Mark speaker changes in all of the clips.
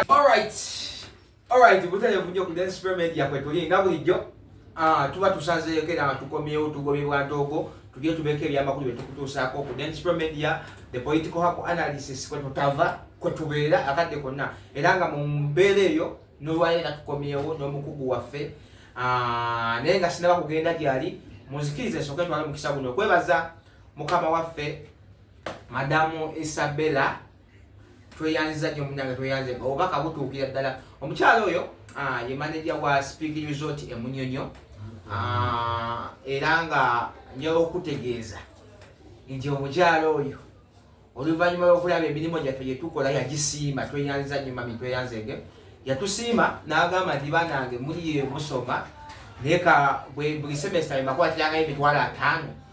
Speaker 1: Alright. Alright, butale vunyo ku Dance Spray Media kwe tuli nga bulijjo. Ah, tuba tusazeyo kera tukomyewo tugobe bwa ntogo. Tujye tubeke bya makulu betu kutusako ku Dance Spray Media, the political hapo analysis kwe tutava, kwe tubera akadde konna. Era nga mu mbere yo no waye na tukomyewo no mukugu wafe. Ah, nenga sinaba kugenda gyali. Muzikirize soke twala mukisa guno. Kwebaza mukama wafe Madamu Isabella tweyanziza nyo munange tweyanze nga obubaka butuukira ddala omukyala oyo ah, ye maneja wa speak resort emunyonyo ah, era nga njala okutegeeza nti omukyala oyo oluvannyuma lwokulaba emirimu gyaffe gyetukola yagisiima tweyanziza nyo mami tweyanzege yatusiima n'agamba nti banange muliye musoma naye ka buli semesita bemakwatirangayo emitwalo ataano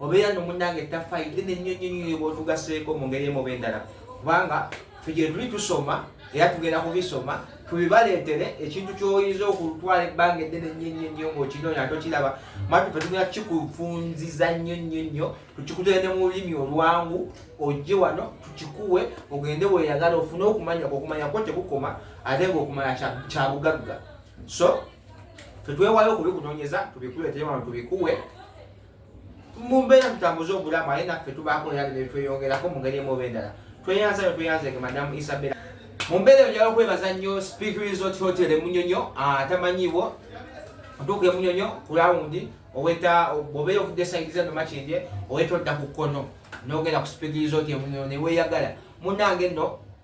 Speaker 1: obeera no munange tafaayi dene nnyo nnyo nnyo bwotugaseeko mu ngeri emuba endala kubanga fe gye tuli tusoma era tugenda kubisoma tubibaleetere ekintu kyoyinza okutwala ebbanga eddene nnyo nnyo nnyo ng'okinoonya ate okiraba matu fe tugenda kikufunziza nnyo nnyo nnyo tukikutere ne mu lulimi olwangu ojje wano tukikuwe ogende weeyagala ofune okumanya okumanya kwo tekukoma ate ng'okumanya kya bugagga so fe twewayo okubikunoonyeza tubikuleetere wano tubikuwe mumbeera tutambuze obulamu aye naffe tubaako neyali netweyongerako mu ngeri emuoba endala tweyanza nyo tweyanzege madamu isabela mu mbeera eyo njala okwebaza nnyo speak resort hotel emunyonyo atamanyiiwo otuuka emunyonyo ku lawundi oweta obeera ovudde saidiza nomakindye oweta odda ku kkono nogenda ku speak resort emunyonyo neweyagala munange nno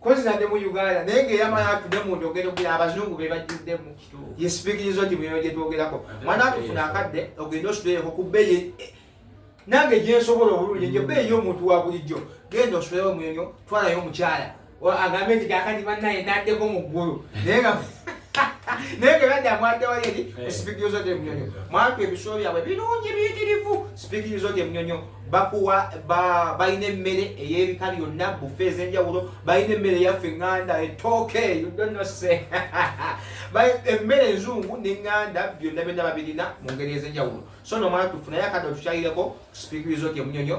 Speaker 1: kozi nadde mu uganda naye nga eyamala atude mu njogero gula abazungu be bajjuddemu ye sipikinyiza oti muyoyo gye twogerako mwana atufuna akadde ogenda osudeyeko ku bbeeyi eh, nange gye nsobola obulungi nje bbeeyi y'omuntu wa bulijjo genda osudeyo omuyoyo twalayo omukyala agambe nti kakati bannaye naddeko mu ggulu naye nga naye nga badde amwaddewayo eri eh. sipikinyiza oti emunyonyo mwatu ebisulo byabwe birungi biyitirivu sipikinyiza oti emunyonyo bakuwa balina emmere ey'ebika byonna bufe ez'enjawulo balina emmere yaffe eŋŋanda etooke udonose emmere enzungu neŋŋanda byonna byonna babirina mu ngeri ez'enjawulo so nomwana tufunayo akadde otukyayireko speak resort emunyonyo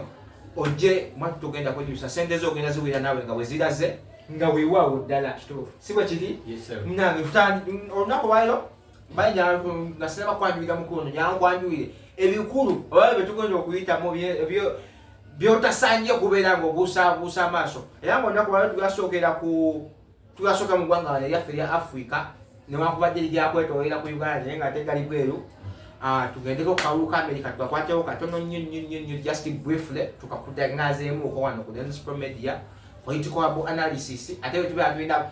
Speaker 1: ojje mwatu tugenda kwejusa sente zo ogenda ziwira naawe nga weziraze nga weewaawo ddala kituufu si bwe kiri munange olunaku lwayo mbaye nyangu nasina bakwanjulira mukulu no nyangu kwanjulire ebikulu oba betugonja okuyitamu ebyo byotasanye kubeera nga obuusabuusa amaaso era nga olunaku lwalo tugasookera ku tugasooka mu ggwanga wano eryaffe erya africa newankubadde liryakwetolera ku uganda naye nga tegali bweru ah, tugendeko kukalulu ka america tukakwatewo katono nnyo nnyo nnyo nnyo just briefly tukakutanazeemu okowano ku densipro media political analysis ate wetubeera tulina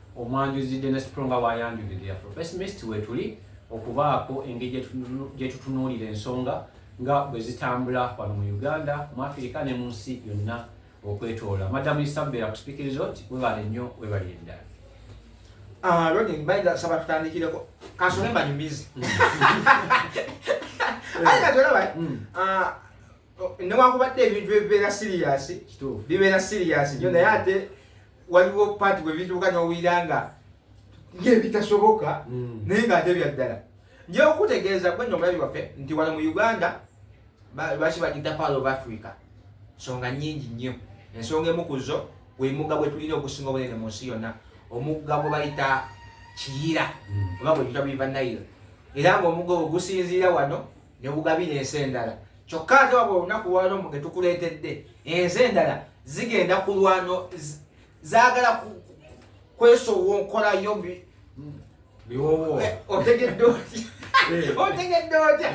Speaker 1: omwanjuzi Dennis Pro nga bwayanjulidde ya First Mist wetuli okubaako engeri gyetutunuulira ensonga nga bwe zitambula wano mu Uganda mu Afirika ne mu nsi yonna okwetoola madamu Isabella kusipiikiriza oti webale nnyo webalire ddala ah, Ronnie mbayinza kusaba tutandikireko kansole mbanyumizi mm. aye nga tolaba mm. ah, newankubadde ebintu ebibeera siriyasi bibeera siriyasi nyo naye ate waliwo paati bwebituuka nowulira nga ngaebitasoboka mm. naye ngaate byaddala njeokutegeeza gwe nomulabi waffe nti wano mu uganda baki bagita power of africa nsonga nyingi nnyo ensonga emu kuzo gwemugga gwetulina okusinga obunene mu nsi yonna omugga gwe bayita kiyira mm. oba gwe tuta biva nairo era ngaomugga ogwo gusinziira wano ne bugabira ensi endala kyokka ate wabula olunaku lwalo mbu getukuleetedde ensi endala zigenda kulwano zaagala kwesowonkola yo otegedde otya eh. otegedde otya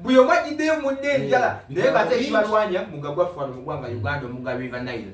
Speaker 1: buli omu ajjiddeyo munne enjala eh. naye bate ekibalwanya mugagwaffe wano mu gwanga uganda omugabiva nile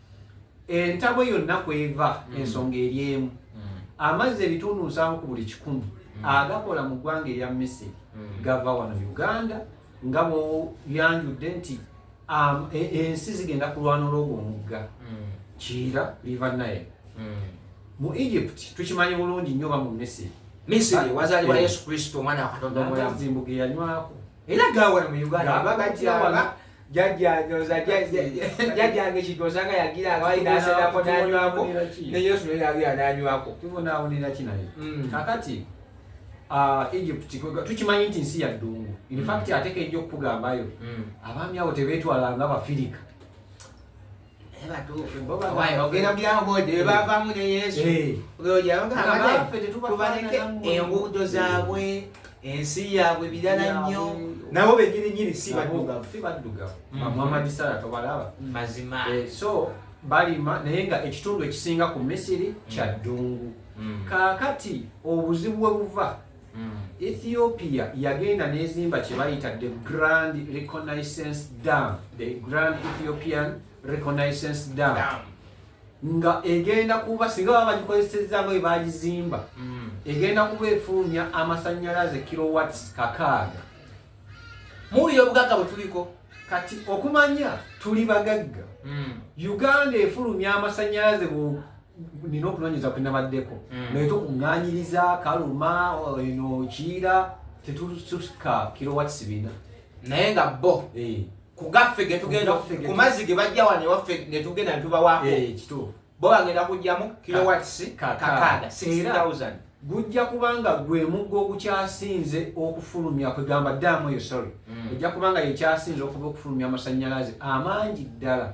Speaker 2: entabwe yonna kweva mm. ensonga eri emu mm. amazzi ebitundu nsanvu ku buli kikumi mm. agakola mu ggwanga erya misiri gava wano uganda nga bweyanjudde nti um, e, ensi zigenda kulwana olwogwo omugga kiira liva naye mu egypt tukimanyi bulungi nnyo ba mu misiri misiri
Speaker 1: wazalibwa yesu kristo omwana
Speaker 2: wakatonda
Speaker 1: omulamu era gawala mu uganda jajjanyoza jajjange kidoza nga yagira nga balina aserako nanywako ne yesu naye yagira nanywako tubonaawonera ki naye
Speaker 2: mm. kakati ah, egypt tukimanyi nti nsi ya ddungu infact mm. ateka ejja okukugambayo mm. abaami abo tebetwala nga bafirika
Speaker 1: enguudo zaabwe ensi yaabwe birala nnyo nabo benyini nyini si baddugavu
Speaker 2: mwamadisala tobalaba mazima eh, so balima naye nga ekitundu ekisinga ku misiri kya ddungu mm. kaakati obuzibu we buva mm. ethiopia yagenda nezimba kyebayita the grand reconnaissance dam the grand ethiopian reconnaissance dam, dam. nga egenda kuba singa baba bagikozeseza nga webagizimba mm. egenda kuba efuumya amasanyalaze kilowats kakaaga
Speaker 1: muwulira obugagga bwetuliko kati
Speaker 2: okumanya tuli bagagga mm. uganda efulumya amasanyalaze nina okunonyeza kwenabaddeko mm. naye tokuŋŋanyiriza kaluma eno kiira tetusuka kilowatts bina naye nga
Speaker 1: bo eh. kugaffe getugenda ku mazzi ge bajja wano ewaffe netugenda netubawaako eh, bo
Speaker 2: bagenda kujjamu
Speaker 1: kilowatts kakaaga 6000 gujja
Speaker 2: kubanga gwe muggo ogukyasinze okufulumya kwegamba daamu eyo sorry mm. ejja kubanga yekyasinze okuba okufulumya amasannyalaze amangi ddala mm.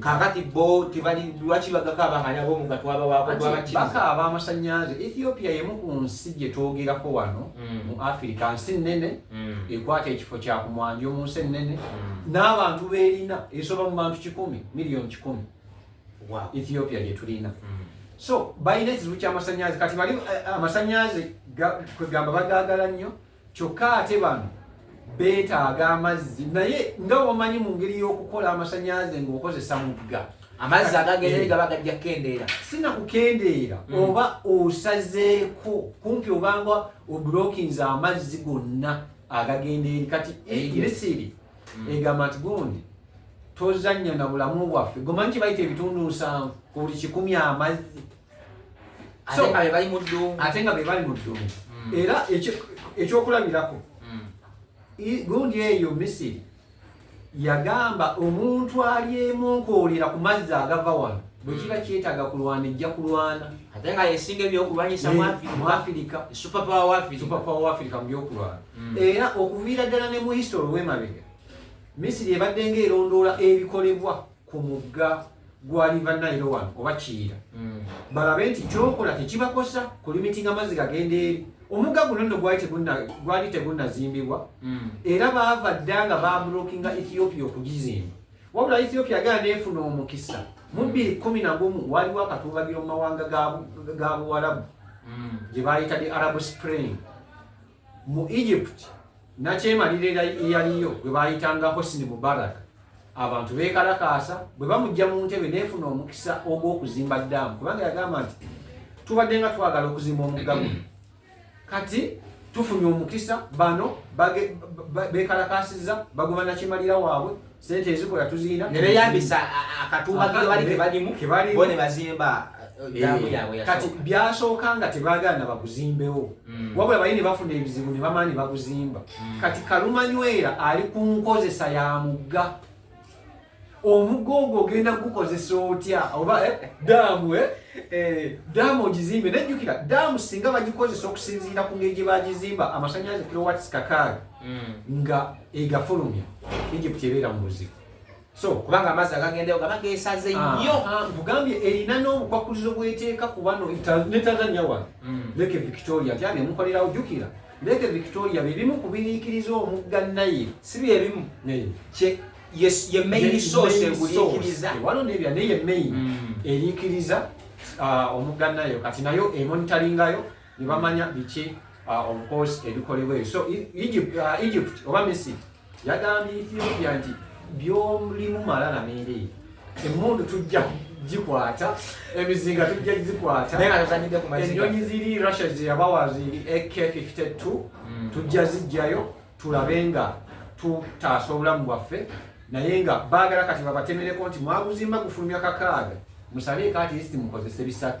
Speaker 1: kakati bo tebali lwaki bagakaaba nga nabo nga twabawakobakaaba
Speaker 2: amasannyalaze ethiopia yemu ku nsi gye twogerako wano mm. mu afirika nsi nnene mm. ekwata ekifo kya ku mwanjo mu nsi ennene mm. n'abantu beerina esoba mu bantu kikumi miliyoni kikumi ethiopia gye tulina so balina ekizibu ky'amasannyalaze kati bali eh, amasannyalaze kwegamba bagaagala nnyo kyokka ate bano beetaaga amazzi naye nga wamanyi mu ngeri y'okukola amasanyalaze ng'okozesa mugga amazzi agagenda
Speaker 1: eri gaba gajja kukendeera sina kukendeera
Speaker 2: mm. oba osazeeko kumpi obanga oblokinze amazzi gonna agagenda eri kati misiri mm. egamba nti gundi tozannya na bulamu bwaffe gomanyi kyebayita ebitundu nsanvu ku buli kikumi amazzi ate nga bebali mu ddungu mm. era ekyokulabirako mm. gundi eyo misiri yagamba omuntu alyemunkoolera ku mazzi agava wano bwekiba kyetaaga kulwana ejja kulwana ate nga yesinga
Speaker 1: ebyokulwanyisa muafirika supapawa waafirika mu
Speaker 2: byokulwana mm. era okuviira ddala ne mu history wemabega misiri ebadde nga erondoola ebikolebwa ku mugga gwa riva nile wano oba kiyira hmm. balabe nti kyokola tekibakosa ku limitinga amazzi gagenda eri omugga guno nno gwali tegunazimbibwa hmm. era baava dda nga babulokinga ethiopia okugizimba wabula ethiopia agenda neefuna omukisa mu bbiri kumi na gumu waliwo akatuubagiro mu mawanga ga buwalabu hmm. gye bayita the arab spring mu egypt nakyemalira eyaliyo gwe bayitanga hosni mubarak abantu bekalakaasa bwe bamujja mu ntebe nefuna omukisa ogw'okuzimba daamu kubanga yagamba nti tubadde nga twagala okuzimba omugga guno kati tufunye omukisa bano bekalakaasiza baguma nakimalira waabwe sente ezikola tuzirina ne beyambisa
Speaker 1: akatuuba ke bali ke balimu ke bali bone bazimba damu eh, yabwe kati byasooka
Speaker 2: nga tebagala na bakuzimbewo mm. wabula bayini bafuna ebizibu ne bamaani bakuzimba mm. kati kalumanywera ali ku nkozesa ya mugga omugga ogwo ogenda kugukozesa otya oba eh, daamu eh? eh, daamu ogizimbe nejjukira daamu singa bagikozesa okusinziira ku ngeri gye bagizimba amasanyalaze kilowatts kakaaga mm. nga egafulumya egypt ebeera mu buzibu so kubanga amazzi agagendayo
Speaker 1: gaba gesaze nnyo ah, ah, nkugambye erina
Speaker 2: n'obukwakkulizo bweteeka ku bano ne tanzania wano mm. leke victoria tyani emukolerawo jukira leke victoria byebimu kubiriikiriza omugga naye si byebimu
Speaker 1: ye main source eguliikiriza wano nebya neye
Speaker 2: main mm. eriikiriza ah, omugga nayo kati nayo emonitaringayo ne bamanya biki uh, of course ebikolebwa ebyo so egypt, uh, egypt oba misiri yagambye ethiopia nti byolimu malala meereeyo emundu tujja gikwata emizinga tujja gikwata enyonyi ziri russia zeyabawa ziri ak 52 mm. tujja zijjayo tulabe nga tutaasa obulamu bwaffe naye nga baagala kati babatemereko nti mwaguzimba gufulumya kakaaga musabeeko ati isi mukozese bisatu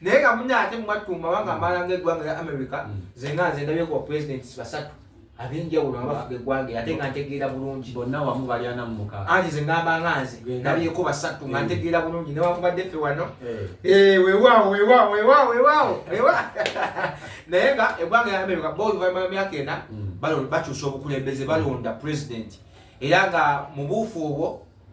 Speaker 1: naye nga muna ate mumattumba wanga mm. amaala ngaeggwanga lya america mm. zenga nze ndabye kuba presidents basatu abenjawulo nga bafuga eggwanga ate nga ntegeera bulungi bonna wamu balyana
Speaker 2: mumuka anti ze ngamba nga
Speaker 1: nze ndabyeko basatu nga eh. ntegeera bulungi newakubadde ffe wano eh. Eh, wewaawo wewaawo wewaawo wewaawo naye nga eggwanga lya america boluvanyuma lwemyaka ena mm. bakyusa obukulembeze balonda president era nga mubuufu obwo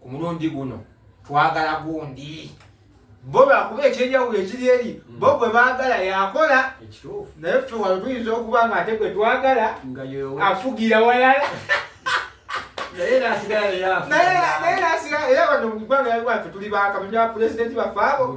Speaker 1: ku mulundi guno twagala gundi bo bakuba ekyenjawulo ekiri eri hmm. bo gwe baagala yakola naye ffe wano tuyinza okuba nga ate gwe twagala afugira walala naye nasigala era wano mu ggwanga yalwaffe tuli bakamanyi ba pulezidenti baffe abo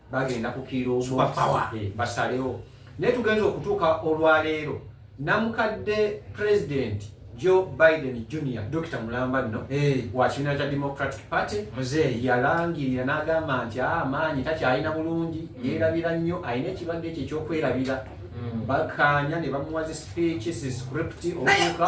Speaker 2: bagenda kukiira omupawa basalewo naye tugenza okutuuka olwaleero namukadde pulezidenti joe biden junior dokita mulamba nno wa kibiina kya democratic party yalangirira n'agamba nti ah, amaanyi takyalina bulungi mm. yeerabira nnyo alina ekirwadde ekyo ekyokwerabira mm. bakaanya ne bamuwa zi speech si script okuuka